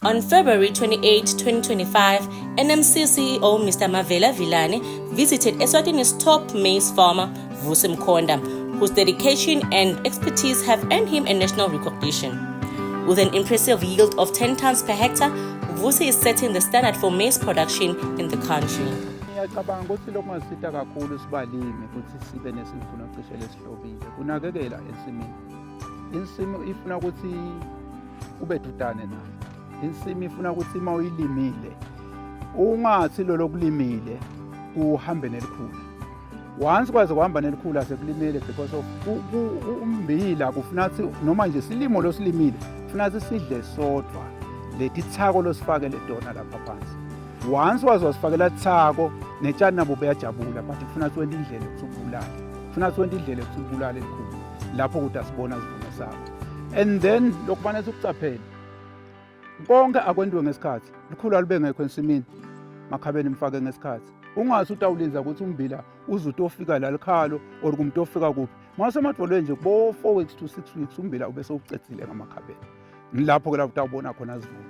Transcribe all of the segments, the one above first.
On February 28, 2025, NMC CEO Mr. Mavela Vilane visited Eswatini's top maize farmer, Vusi Mkhonda, whose dedication and expertise have earned him a national recognition. With an impressive yield of 10 tons per hectare, Vusi is setting the standard for maize production in the country. ngiyacabanga ukuthi lokhu kungasita kakhulu sibalimi ukuthi sibe nesivuno cishe lesihlobile kunakekela ensimini insimu ifuna ukuthi ube dudane nayo insimi ifuna ukuthi uma uyilimile ungathi lolo kulimile uhambe nelikhulu once kwaze kuhamba nelikhulu asekulimele because of umbila kufuna ukuthi noma nje silimo losilimile kufuna ukuthi sidle sodwa leti thako losifakele tona lapha phansi once waze wasifakela thako netshani nabo beyajabula but kufuna ukuthi wente indlela ukuthi ubulale kufuna ukuthi wente indlela ukuthi ubulale elikhulu lapho kuthi asibona sivuno sakho and then lokufanele sikucaphele konke akwentiwe ngesikhathi likhulu alube ngekho ensimini makhabeni mfake ngesikhathi ungase utawulinza ukuthi umbila uze utofika la likhalo or kumuntu ofika kuphi mase emadvolweni nje bo 4 weeks to 6 weeks umbila ube sewucethile ngamakhabeni ngilapho ke la utawubona khona zivuno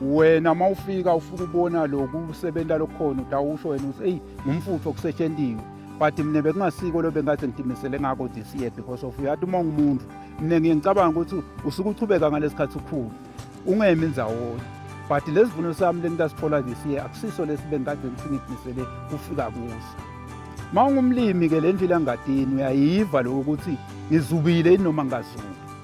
wena uma ufika ufuna ubona loku usebenza lokhona utawusho wena uthi eyi ngumfutho kusetshentiwe but mina bekungasiko lo bengathi ngitimisele ngako this year because of uyathi uma ungumuntu mina ngiye ngicabanga ukuthi usuke uchubeka ngalesi khathi ukhulu ungemi ndzawonye but lesi vuno sami lengitasithola this year akusiso lesi bengikade ngifike ngitimisele kufika kuso uma ungumlimi-ke le ndlela engadini uyayiva lokho ukuthi ngizubile yini noma ngazubi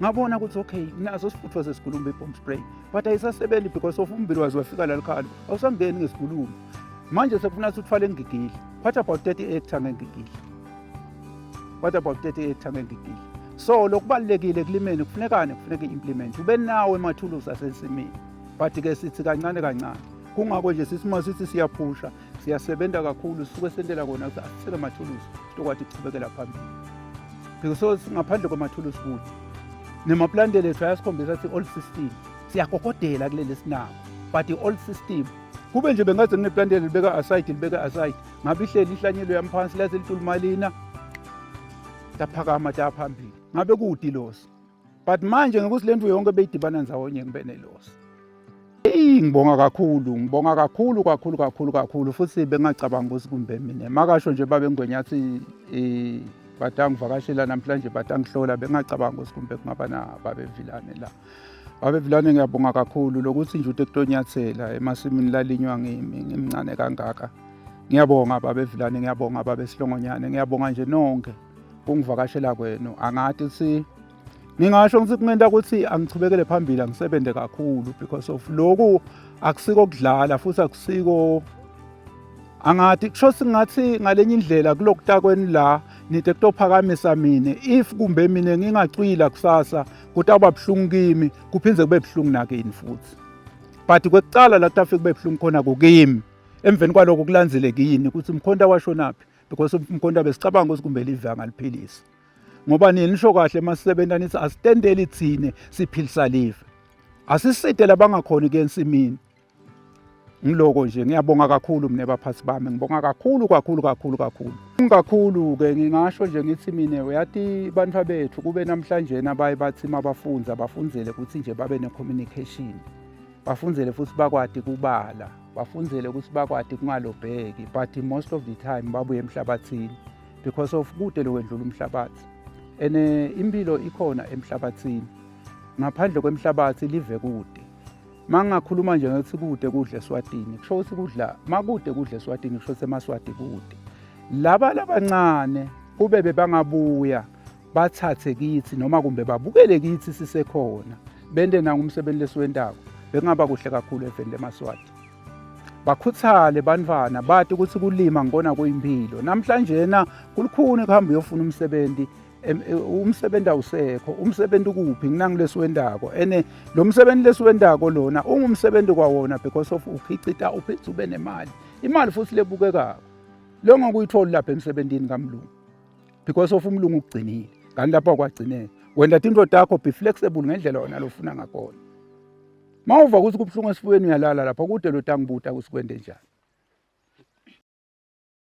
ngabona ukuthi okay naso sifuthwa sesigulumbe i-bomb spray but ayisasebenzi because of umbili waze wafika lalikhalo awusangeni ngesigulumo manje sekufuna ukuthi uthwale ngigigile what about 30 hectare ngengigile what about 30 hectare ngengigile so lokubalulekile kulimeni kufunekane kufuneka i-implement ube nawo emathuluzi asensimini but-ke sithi kancane kancane kungako nje sisima sithi siyaphusha siyasebenza kakhulu suke sentela kona ukuthi asisele mathuluzi sitokwathi ukuqhubekela phambili because ngaphandle kwamathuluzi futhi nemaplantele ethu ayasikhombisa ukuthi old system siyakokodela kuleli sinako but i-old system kube nje bengaze ngineplantele libeka aside libeka aside ngabe ihleli ihlanyelo yami phansi laze litulumalina taphakama taphambili ngabe kude ilosi but manje ngokuthi lento yonke beyidibana nzawonye kube nelosi Eyi ngibonga kakhulu, ngibonga kakhulu kakhulu kakhulu kakhulu futhi bengacabangi ukuthi kumbe mina. Makasho nje babe Ngwenya athi eh bathi angivakashela namhlanje bathi angihlola bengacabangi ukuthi kumbe kungaba na babe Vilane la. Babe Vilane ngiyabonga kakhulu lokuthi nje uTeklonyathela emasimini lalinywa ngimi ngimncane kangaka. Ngiyabonga babe Vilane, ngiyabonga babe Silongonyane, ngiyabonga nje nonke. kungivakashela kwenu angathi ukuthi ngingasho ngithi kungenta ukuthi angichubekele phambili angisebenze kakhulu because of loku akusiko kudlala futhi akusiko angathi kusho singathi ngalenye indlela kulokutakweni la nide kutophakamisa mina if kumbe mina ngingacwila kusasa kutawuba buhlungu kimi kuphinde kube buhlungu nakini futhi but kwekuqala la kutafike kube buhlungu khona kukimi emveni kwaloko kulandzele kini ukuthi mkhonta washonaphi because umkhonto besicabanga ukuthi kumbe live angaliphilisa ngoba nini nisho kahle masisebenza nithi asitendeli thine siphilisa live asiside labangakhona ke ensimini ngiloko nje ngiyabonga kakhulu mina baphathi bami ngibonga kakhulu kakhulu kakhulu kakhulu kakhulu ke ngingasho nje ngithi mina uyathi bantu bethu kube namhlanje nabaye bathi mabafunza bafunzele ukuthi nje babe ne communication bafunzele futhi bakwadi kubala bafunzele ukuthi bakwati kungalobheki but most of the time babuye emhlabathini because of kude lokwendlula umhlabathi and eh, impilo ikhona emhlabathini ngaphandle kwemhlabathi live kude mangingakhuluma nje ngathi kude kudle swatini kusho ukuthi kudla makude kudle swatini kusho ukuthi emaswati kude laba labancane kube bebangabuya bathathe kithi noma kumbe babukele kithi sisekhona bende nangumsebenzi lesiwentako bekungaba kuhle kakhulu eveni lemaswati bakhuthale bantwana bati ukuthi kulima ngikona kuyimpilo namhlanjena kulukhuni ukuhamba uyofuna umsebenzi e, umsebenzi awusekho umsebenzi ukuphi nginangilesi wendako ene lo msebenzi lesi wendako lona ungumsebenzi kwawona because of uphicita uphitha ube nemali imali futhi lebukekako lo ngokuyitholi lapha emsebenzini kamlungu because of umlungu ukugcinile kanti lapho akwagcineki wenda into yakho be flexible ngendlela wena lofuna ngakhona uma uva ukuthi kubuhlungu esifubeni uyalala lapho kude lo tangibuta ukuthi kwende njani